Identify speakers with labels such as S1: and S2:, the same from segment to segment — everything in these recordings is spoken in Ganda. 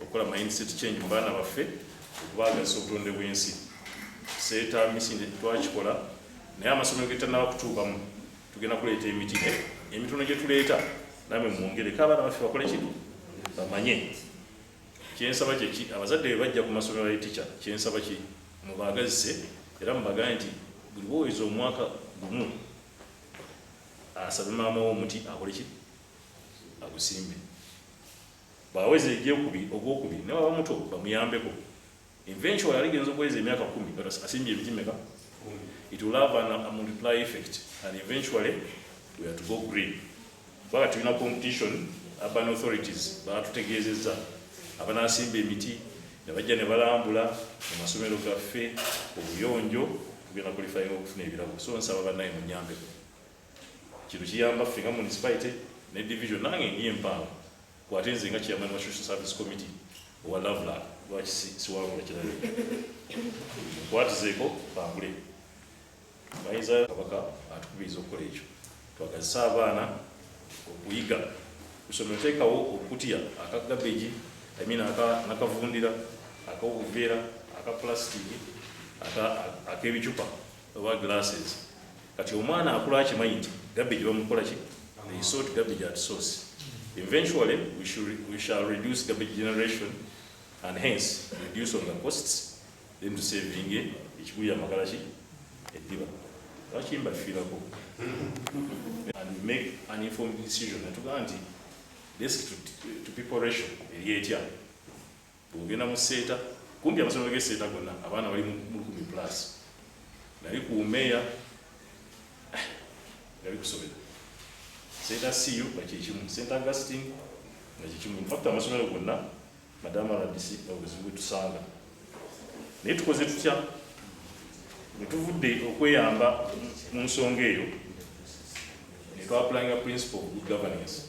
S1: okukola mindset change mu baana baffe okubaagazisa obutonde bw'ensi seeta misinde twakikola naye amasomero getanaba kutuukamu tugenda kuleeta emiti emitono gye tuleeta namwe mwongereko abaana baffe bakole kino bamanye kyensaba kyeki abazadde be bajja ku masomero ga ticha kyensaba ki mubaagazise era mubagane nti buli boweza omwaka gumu asabe maama wo omuti akole ki agusimbe Bwaweza egyokubiri, ogwokubiri ne bwaba muto bamuyambeko. Eventually aligenza okuweza emyaka kumi nga asimbye emiti meka? It will have an, a multiply effect and eventually we are to go green. Kubanga tulina competition, urban authorities batutegeezezza abanasimba emiti ne bajja ne balambula mu masomero gaffe obuyonjo tugenda kulifayinga okufuna ebirabo so nsaba banaye munyambeko Kino kiyamba ffe nga municipality ne division nange ndi empangu kwate nze nga chairman wa social service committee owa Loveland lwaki siwangula kirala nkwatizeeko bambule bayinza kabaka atukubiriza okukola ekyo twagazisa abaana okuyiga kusomero teekawo okukutya aka gabeji amin nakavundira akaobuveera aka plastic ak'ebicupa oba glasses Kati omwana akula akimanyi nti garbage bamukola ki? They sort garbage at source. Eventually we should we shall reduce garbage generation and hence reduce on the costs then to saving it ekigulira magala ki eddiba lwaki mbafiirako and we make an informed decision natugaa nti desk to, to people ratio eri etya Bw'ogenda mu Seeta, kumpi amasomero g'e Seeta gonna abaana bali mu lukumi plus. Nali ku Umeya, eh, nali kusomera Seeta CU nga kye kimu, St Augustine nga kye kimu. In fact amasomero gonna madaama RDC obuzibu bwe tusanga. Naye tukoze tutya? Bwe tuvudde okweyamba mu nsonga eyo, ne twapulayinga principle of good governance.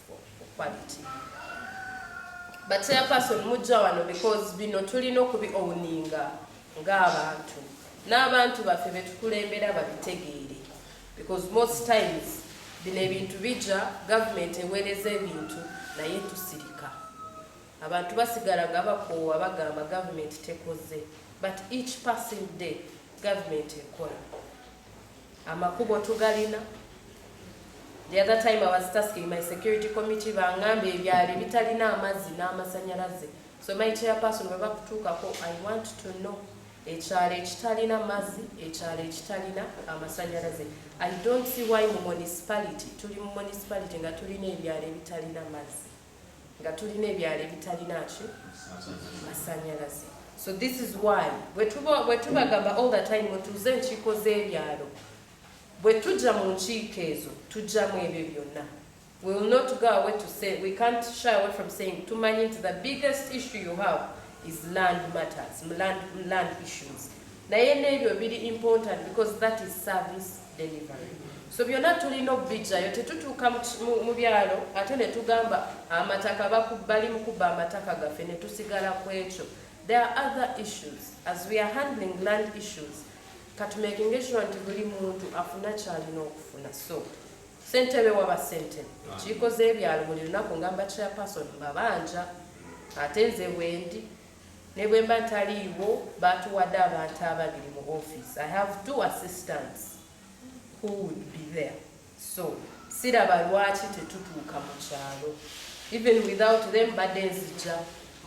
S2: But chairperson mujja wano because bino tulina okubi owninga ng'abantu n'abantu baffe betukulembera babitegeere because most times bino ebintu bijja gavumenti eweereza ebintu naye tusirika abantu basigala nga bakoowa bagamba gavumenti tekoze but each passing day gavumenti ekola amakubo tugalina the other time I was tasking my security committee bangamba ebyali bitalina amazzi n'amasanyalaze so my chairperson bwe bakutuukako I want to know ekyalo ekitalina mazzi ekyalo ekitalina amasanyalaze I don't see why mu municipality tuli mu municipality nga tulina ebyalo ebitalina mazzi nga tulina ebyalo ebitalina ki masanyalaze so this is why bwetubagamba all the time mutuuze enkiiko z'ebyalo bwe tujja mu nkiiko ezo tujjamu ebyo byonna we will not go away to say we can't shy away from saying tumanyi nti the biggest issue you have is land matters land, land issues naye n'ebyo biri important because that is service delivery so byonna tulina okubijjayo tetutuuka mu byalo ate ne tugamba amataka bakubbali mu kubba amataka gaffe ne tusigala ku ekyo there are other issues as we are handling land issues katumakinga ekiro nti buli muntu afuna kyalina okufuna so sentebe waba sentebe ekiiko z'ebyalo buli lunaku ngamba chairperson mbabanja ate nze wendi Ne bwe mba ntaliiwo, baatuwadde abantu ababiri mu ofiisi. I have two assistants who would be there. So, siraba lwaki tetutuuka mu kyalo. Even without them, mbadde nzija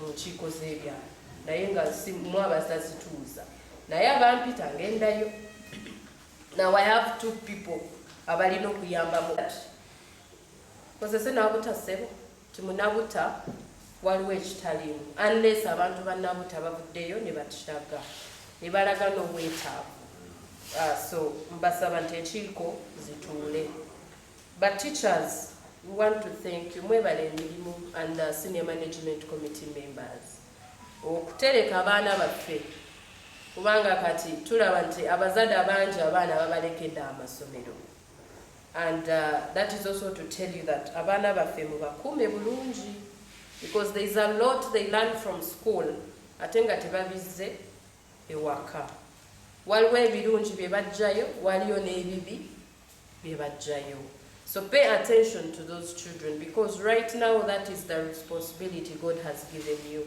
S2: mu nkiiko z'ebyalo. Naye nga mwaba zazituuza. Naye abampita ngendayo. Now I have two people abalina okuyambamu. Kozese n'abutasebo. Nti munabuta waliwo ekitaliimu unless abantu banabuta bavuddeyo nebatiraga nebalaga n'obwetaavu uh, so mbasaba nti enkiiko zituule but teachers we want to thank you mwebale emirimu and the senior management committee members okutereka abaana baffe kubanga kati tulaba nti abazadde abangi abaana babalekede amasomero and uh, that is also to tell you that abaana baffe mubakuume bulungi because there is a lot they learn from school ate nga tebabizze ewaka waliwo ebirungi bye bajjayo waliyo n'ebibi bye bajjayo so pay attention to those children because right now that is the responsibility god has given you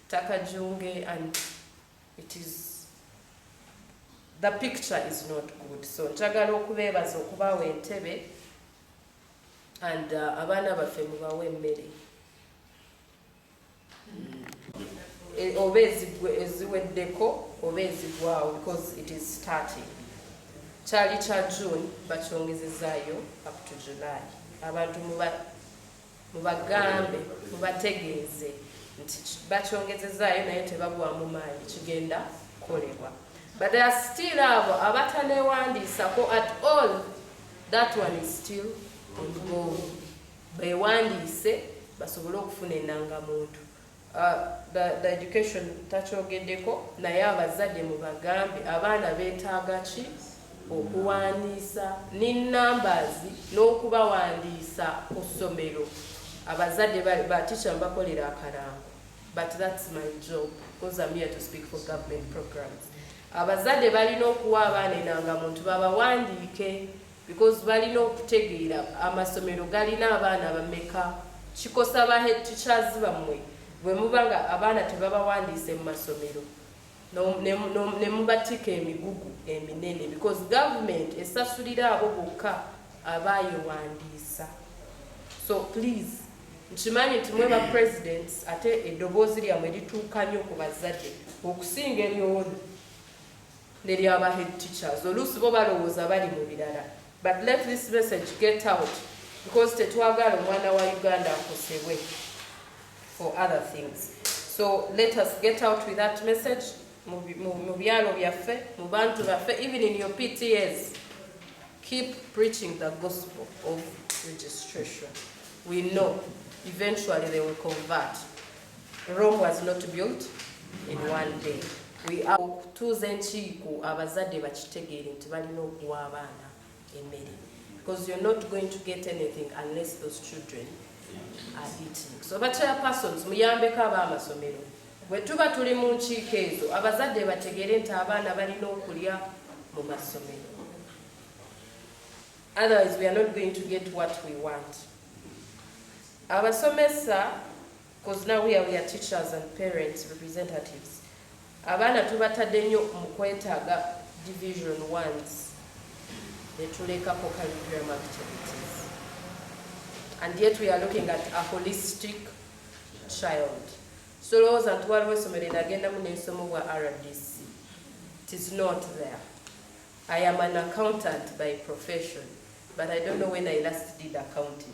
S2: Taka junge and it is the picture is not good so njagala okubeebaza okubaawo entebe and uh, abaana baffe mubawe emmere e, oba eziweddeko oba ezigwawo because it is starting kyali kya june bakyongezezaayo up to july abantu muba Mubagambe, mubategeeze nti bakyongezezaayo naye tebagwamu maanyi kigenda kukolebwa. But there are still abo abatanewandiisako at all. That one is still ongoing. Bewandiise basobole okufuna enangamuntu. The the education takyogedeko naye abazade mubagambe abaana betaaga ki okuwandiisa ni numbers n'okubawandiisa ku ssomero abazade batisha mbakolera akarango but that's my job because I'm here to speak for government programs abazade balina okuwa abaana enanga muntu babawandiike Because balina okutegeera amasomero galina abaana bameka kikosa ba head teachers bamwe bwemuba nga abaana tebabawandiise mu masomero nemubatika emigugu eminene because government esasulira abo bokka abayewandiisa so please nkimanyi nti mwe ba presidents ate eddoboozi lyamwe lituuka nnyo ku bazadde okusinga ebyowoni neryaba head teachers oluusi bo balowooza bali mu birala but let this message get out because tetwagala omwana wa uganda akosebwe for other things so let us get out with that message mu byalo byaffe mu bantu baffe even in your ptas keep preaching the gospel of registration we know eventually they will convert Rome was not built in one day. We are okutuuza enkiiko abazadde bakitegeere nti balina okuwa abaana emmere because you're not going to get anything unless those children are eating. So ba chairpersons muyambeko ab'amasomero bwe tuba tuli mu nkiiko ezo abazadde bategeere nti abaana balina okulya mu masomero. Otherwise we are not going to get what we want. Abasomesa coz now here we are teachers and parents representatives abaana tubatadde nyo mukwetaaga division ones netulekako curriculum activities and yet we are looking at a holistic child solowooza nti waliwo esomero enagendamu nensomo bwa rdc it is not there i am an accountant by profession but i don't know when i last did accounting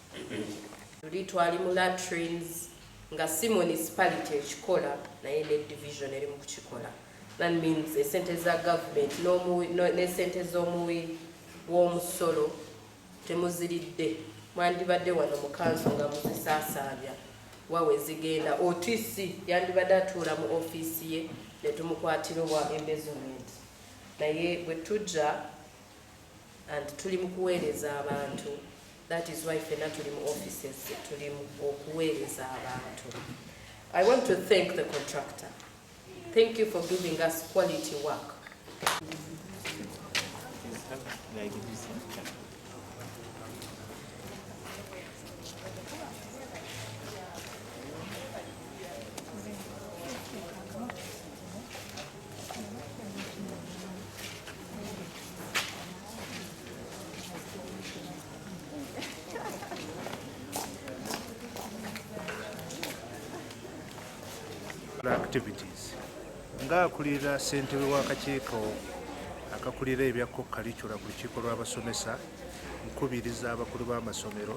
S2: Luli twali mu latrines nga si municipality ekikola naye ne division eri mu kukikola. That means esente za government n'esente z'omuwi w'omusolo temuziridde mwandibadde wano mu kanso nga muzisaasaanya wawe zigenda OTC yandibadde atuula mu ofiisi ye ne tumukwatira owa embezzlement naye bwe tujja and tuli mu kuweereza abantu That is why fena tuli mu offices tuli mu okuweereza abantu. I want to thank the contractor. Thank you for giving us quality work.
S3: activities nga akulira ssentebe w'akakiiko akakulira ebya ku kalicula ku lukiiko lw'abasomesa nkubiriza abakulu b'amasomero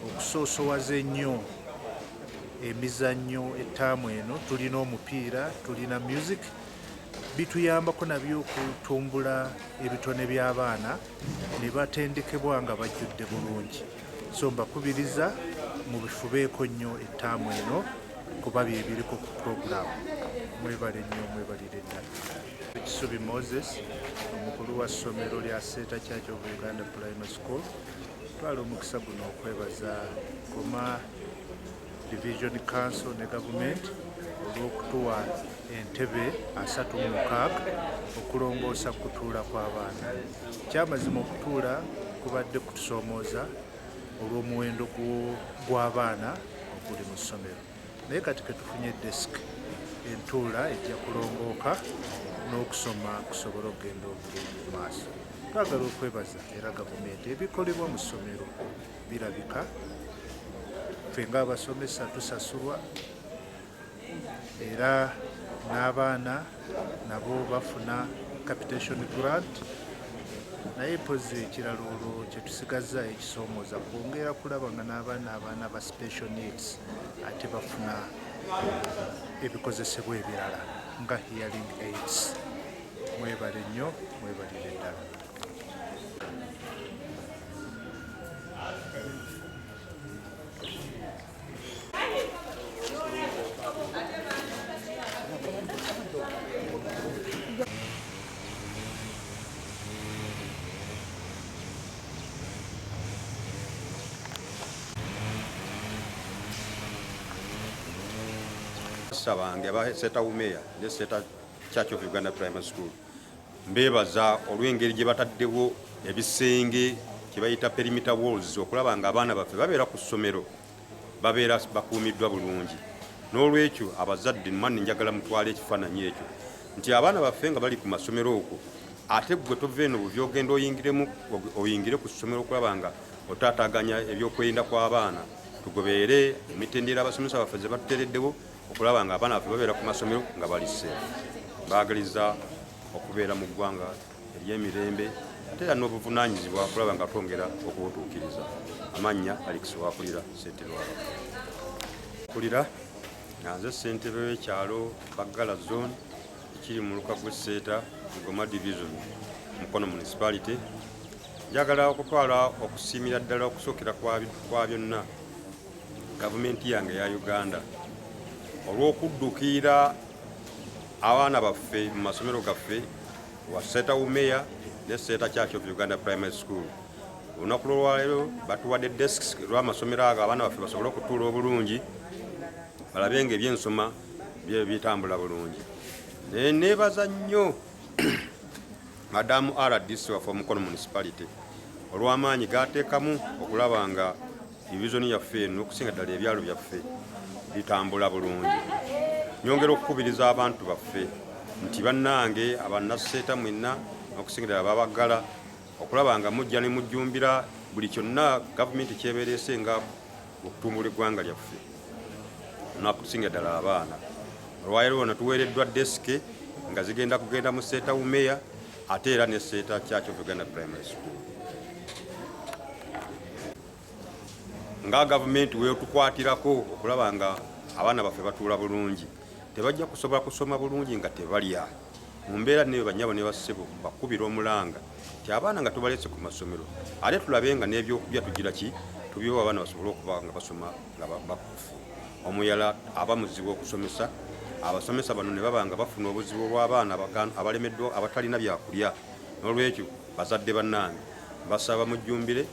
S3: Okusoosowaza ennyo emizannyo ettaamu eno tulina omupiira, tulina music bituyambako nabyo okutumbula ebitone by'abaana ne batendekebwa nga bajjudde bulungi so mbakubiriza mu bifubeeko nnyo ettaamu eno kuba byebiriko ku puroguramu mwebale nnyo mwebalire ddala ekisubi moses omukulu wa ssomero lya seeta church of uganda primary school Twala omukisa guno okwebaza Goma Division Council ne gavumenti olw'okutuwa entebe asatu mu mukaaga okulongoosa kutuula kw'abaana. Kyamazima okutuula kubadde kutusoomooza olw'omuwendo gw'abaana oguli mu ssomero. naye kati ketufunye desk entuula ejja kulongooka n'okusoma kusobola okugenda obulungi mu maaso twagala okwebaza era gavumenti ebikolebwa mu ssomero birabika ffe ngaabasomesa tusasulwa era n'abaana nabo bafuna capitation grant naye mpozi ekirala olwo kyetusigazza ekisoomoza kwongera kulaba nga n'abaana abaana ba special needs ate bafuna ebikozesebwa ebirala nga hearing aids mwebale nnyo mwebalire ddala
S4: abasita bange aba seta umeya ne seta church of uganda primary school Mbeebaza olw'engeri gye bataddewo ebisenge kye bayita perimeter walls okulaba nga abaana baffe babeera ku ssomero babeera bakuumiddwa bulungi n'olwekyo abazadde mmanni njagala mutwala ekifaananyi ekyo nti abaana baffe nga bali ku masomero okwo ate gwe tova eno buvi ogenda oyingiremu oyingire ku ssomero okulaba nga otaataganya ebyokwerinda kw'abaana tugobeere emitendera abasomesa baffe ze batuteereddewo okulaba nga abaana baffe babeera ku masomero nga bali seefu baagaliza okubeera mu ggwanga ery'emirembe ate era n'obuvunaanyizibwa okulaba nga twongera okubutuukiriza amannya alex wakulira ssentebe wa kulira nga nze ssentebe w'ekyalo baggala zone ekiri mu luka gw'esseeta mugoma division mukono municipality njagala okutwala okusiimira ddala okusookera kwa byonna Gavumenti yange ya Uganda olw'okuddukiira abaana baffe mu masomero gaffe wa Seeta Umeya ne Seeta Church of Uganda Primary School olunaku lwolwaleero batuwadde desks lw'amasomero ago abaana baffe basobole okutuula obulungi balabe nga ebyensoma bye bitambula bulungi naye neebaza nnyo madamu rdc waffe omukono municipality olw'amaanyi gaateekamu okulaba nga divizoni yaffe eno okusinga ddala ebyalo byaffe bitambula bulungi nyongera okukubiriza abantu baffe nti bannange abanaseeta mwenna okusinga ddala babaggala okulaba nga mujja ne mujjumbira buli kyonna gavumenti kyebereese nga okutumbula eggwanga lyaffe nakusinga ddala abaana olwaleero wano tuweereddwa desike nga zigenda kugenda mu seeta wumeya ate era ne seeta kyakyo uganda primary school nga gavumenti wetukwatirako okulaba nga abaana baffe batuula bulungi tebajja kusobola kusoma bulungi nga tebalya mu mbeera neyo banyabo ne bassebo bakubira omulanga ti abaana nga tubalese ku masomero ate tulabe nga n'ebyokulya tugira ki tubyowa abaana basobole okuba nga basoma nga bakufu omuyala aba muzibu okusomesa abasomesa bano ne baba nga bafuna obuzibu obw'abaana abalemeddwa abatalina byakulya n'olwekyo bazadde bannange basaba mujjumbire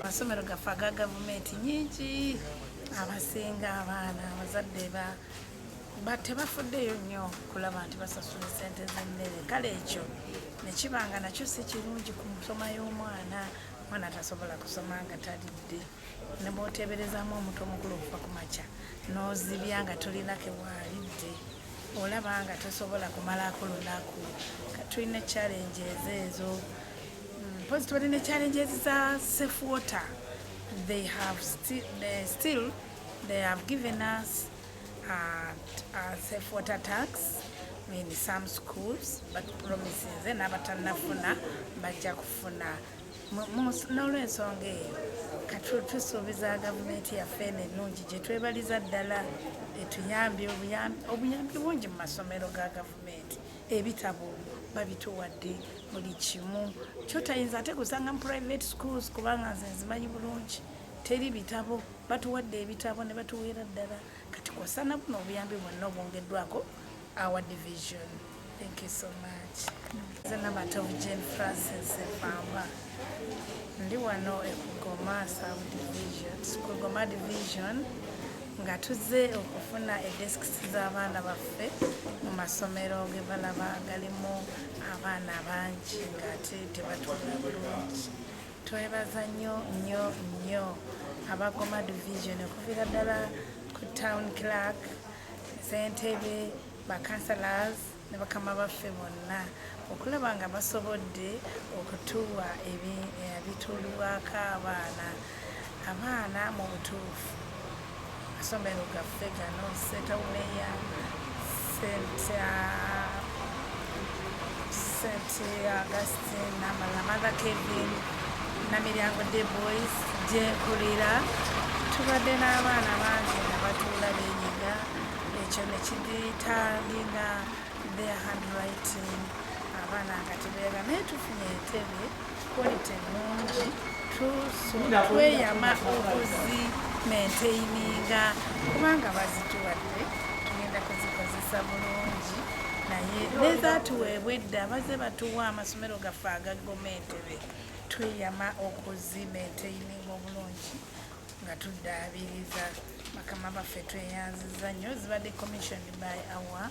S5: amasomero gaffe aga gavumenti nyingi abasinga abaana abazadde ba ba tebafuddeyo nnyo kulaba nti basasula sente z'emmere kale ekyo nekiba nga nakyo si kirungi ku nsoma y'omwana mwana tasobola kusoma nga talidde nebwoteeberezamu omutu omukulu okuva ku makya n'ozibya nga tolinake waalidde olaba nga tosobola kumalako lunaku tulina challenge ezo ezo mm, mpozi tubadde ne challenge ezi za safe water they have still, they still they have given us at uh, safe water tax in some schools but promises eh, n'abatanafuna bajja kufuna n'olwensonga eyo katusuubiza gavumenti yaffe eno ennungi gye twebaliza ddala etuyambye obuyambi bungi mu masomero ga gavumenti ebitabo babituwadde buli kimu kyotayinza ate kusanga mu private schools kubanga nze nzimanyi bulungi teri bitabo Batuwadde ebitabo ne batuweera ddala kati kw'ossa na buno obuyambi bwonna obwongeddwako our division. Thank you so much. Nze Namatovu Jane Francis Mpamba ndi wano e Kugoma South Division, Kugoma Division nga tuzze okufuna edesks z'abaana baffe mu masomero ge balaba galimu abaana bangi ng'ate tebatuula bulungi Twebaza nnyo nnyo nnyo abagoma division okuviira ddala ku town clerk sentebe bacancelors ne bakama baffe bonna okulaba nga basobodde okutuwa ebituluwaako abaana abaana mu butuufu amasomero gaffe gano setawuneya st augustin namala mother kevin namiryango de boys gyenkulira tubadde n'abaana bangi nga batuula benyiga ekyo nekiditalinga their handwriting abaana nga tebeera naye tufunye entebe Quality nungi tweyama okuzi maintayininga kubanga bazituwadde tugenda kuzikozesa bulungi naye nezatuweebwa edda baze batuwa amasomero gaffe aga gomentebe tweyama okuzi maintayininga obulungi nga tuddaabiriza bakama baffe tweyanziza nnyo zibadde commission by our